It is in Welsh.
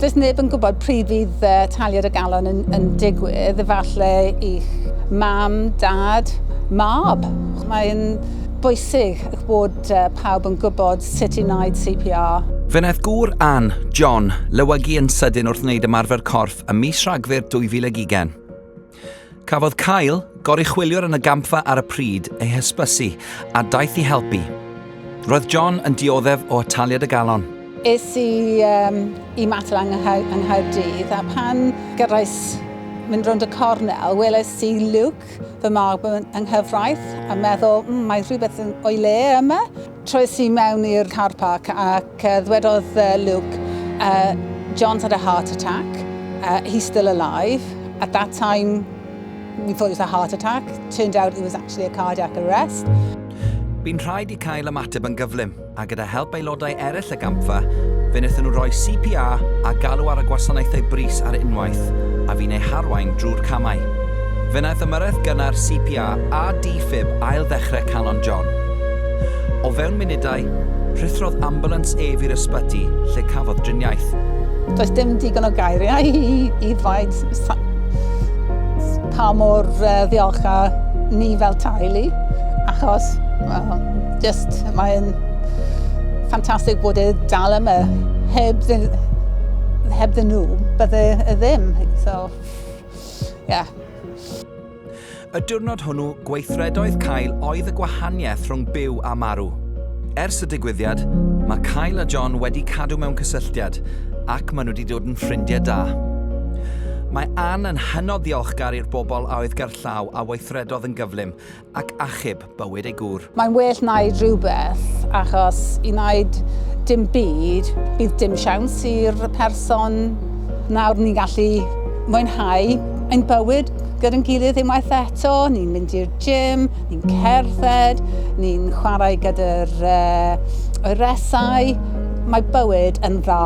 Does neb yn gwybod pryd fydd taliad y galon yn, yn digwydd, efallai i'ch mam, dad, mab. Mae'n bwysig eich bod pawb yn gwybod sut i wneud CPR. Fe wnaeth gŵr Ann, John, lywygu yn sydyn wrth wneud ymarfer corff ym mis Rhagfyr 2020. Cafodd cael goruchwyliwr yn y gampfa ar y pryd ei hysbysu a daeth i helpu. Roedd John yn dioddef o ataliad y galon. Es i um, i matel yng Nghaerdydd a pan gyrraes mynd rownd y cornel, weles i Luke, fy mab yng nghyfraith, a meddwl, mm, mae rhywbeth o'i le yma. Troes i mewn i'r car park ac ddwedodd Luke, John's had a heart attack, he's still alive, at that time we thought it was a heart attack, turned out it was actually a cardiac arrest. Bu'n rhaid i Kyle ymateb yn gyflym, a gyda help aelodau eraill y gampfa, fe wnaethon nhw roi CPR a galw ar y gwasanaethau brys ar unwaith, a fi'n eu harwain drwy'r camau. Fe wnaeth ymyrraeth gynnar CPR a D-fib ail-ddechrau Calon John. O fewn munudau, rhuthrodd ambulance ef i'r ysbyty lle cafodd driniaeth. Does dim digon o geiriau i i ddweud pa mor ddiolchgar ni fel teulu achos, wel, Just, mae'n ffantastig bod e dal yma. Heb, heb ddyn nhw, bydde e ddim. So, yeah. Y diwrnod hwnnw, gweithredoedd Cael oedd y gwahaniaeth rhwng byw a marw. Ers y digwyddiad, mae Cael a John wedi cadw mewn cysylltiad ac maen nhw wedi dod yn ffrindiau da. Mae Anne yn hynod ddiolchgar i'r bobl a oedd gerllaw a weithredodd yn gyflym, ac achub bywyd ei gŵr. Mae'n well wneud rhywbeth achos i wneud dim byd bydd dim siawns i'r person. Nawr ni'n gallu mwynhau ein bywyd gyda'n gilydd unwaith eto, ni'n mynd i'r gym, ni'n cerdded, ni'n chwarae gyda'r uh, oeresau, mae bywyd yn dda.